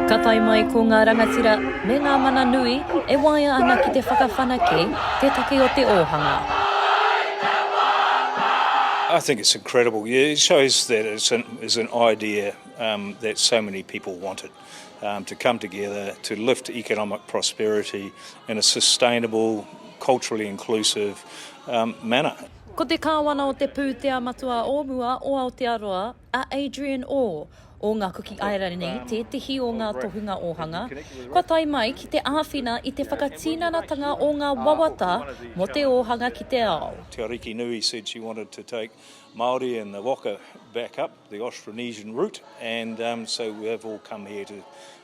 Ka tae mai ko ngā rangatira me ngā mana nui e waea ana ki te whakawhanake te take o te ōhanga. I think it's incredible. Yeah, it shows that it's an, it's an idea um, that so many people wanted um, to come together to lift economic prosperity in a sustainable, culturally inclusive um, manner. Ko te Kāwana o te Pūtea Matua o Mua o Aotearoa, a Adrian Orr, o Ngā Kuki Airani, tētehi o ngā tohunga ōhanga, kua tae mai ki te āwhina i te whakatinanatanga o ngā wawata mō te ōhanga ki te ao. Te Ariki Nui said she wanted to take Māori and the waka back up the Austronesian route and so we have all come here to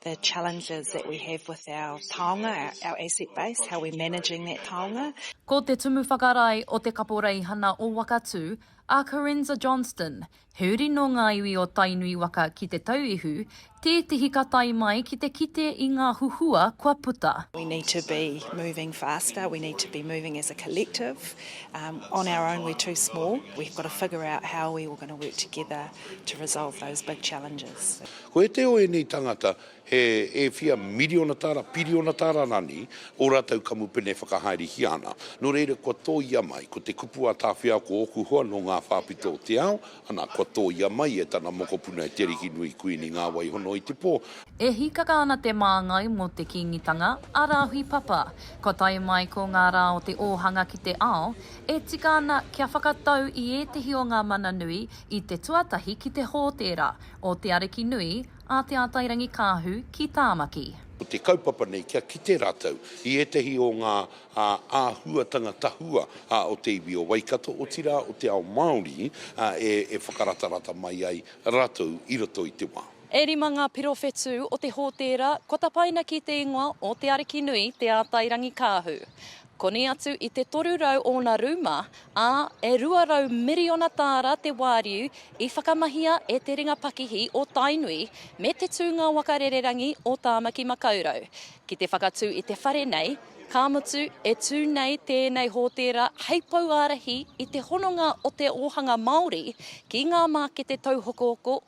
the challenges that we have with our taonga, our asset base, how we're managing that taonga. Ko te Tumu Whakarae o Te Kaporeihana o Wakatū, a Carenza Johnston, he uri nō ngā iwi o Tainui waka ki Te Tauihu, tētehi ka tae mai ki te kite i ngā huhua kua puta. We need to be moving faster, we need to be moving as a collective, on our own we're too small, we've got to figure out how we are going to work together to resolve those big challenges. Ko ētehi o ēnei tāngata he e whia miriona tāra, piriona tāra rānei ō rātou kamupene whakahaerehia ana. Nō reira, kua tōia mai, ko te kupu a Tāwhiao ko ōku hoa nō ngā whāpito o te ao, ana, kua tōia mai e tana mokopuna e Te Arikinui Kuini Ngāwaihono i te pō. E hīkaka ana te māngai mō te Kīngitanga, a Rāhui Papa. Kua tae mai ko ngā rā o te ōhanga ki te ao, e tika ana kia whakatau i ētehi o ngā mana nui i te tuatahi ki te hōtēra, o Te Arikinui a Te Atairangikaahu ki Tāmaki. Ko te kaupapa nei kia kite rātou i ētahi o ngā āhuatanga tahua o te iwi o Waikato, otirā o te ao Māori, e whakaratarata mai ai rātou i roto i te wā. E rima ngā pirowhetū o te hōtēra kua tapaina ki te ingoa o Te Arikinui Te Atairangikaahu. Koni atu i te 300 ōna rūma, ā, e 200 miriona tāra te wāriu i whakamahia e te ringa pakihi o Tainui me te tūnga waka rererangi o Tāmaki Makaurau. Ki te whakatū i te whare nei, ka mutu, e tū nei tēnei hōtēra hei pouārahi i te hononga o te ōhanga Māori ki ngā mākete tauhokohoko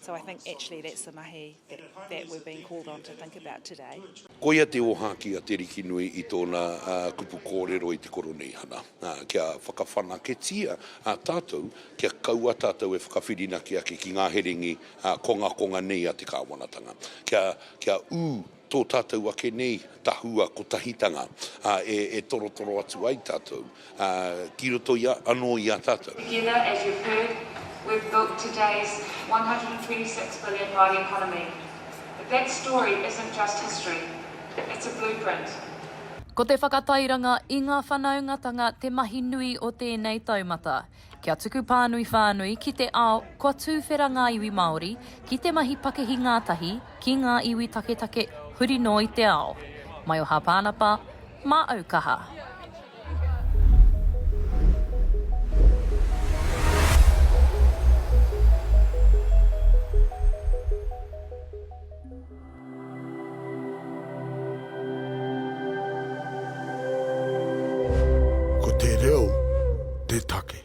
So I think actually that's the mahi that, that we're being called on to think about today. Koia te ōhākī a Te Rikinui i tōna kupu kōrero i te Koroneihana, kia whakawhanaketia tātou, kia kaua tātou e whakawhirinaki ake ki ngā herengi kongakonga nei a te kāwanatanga, kia, kia ū tō tātou ake nei tahua kotahitanga e torotoro atu ai tātou ki roto i a, anō i a tātou. Together, as you've heard, we've built today's one hundred and twenty six billion Māori economy. But that story isn't just history, it's a blueprint. Ko te whakatairanga i ngā whanaungatanga te mahi nui o tēnei taumata. Kia tuku pānui whānui ki te ao, kua tūwhera ngā iwi Māori ki te mahi pakihi ngātahi ki ngā iwi taketake huri noa i te ao. Maioha Pānapa, Māʻau kaha. Ko te reo te take.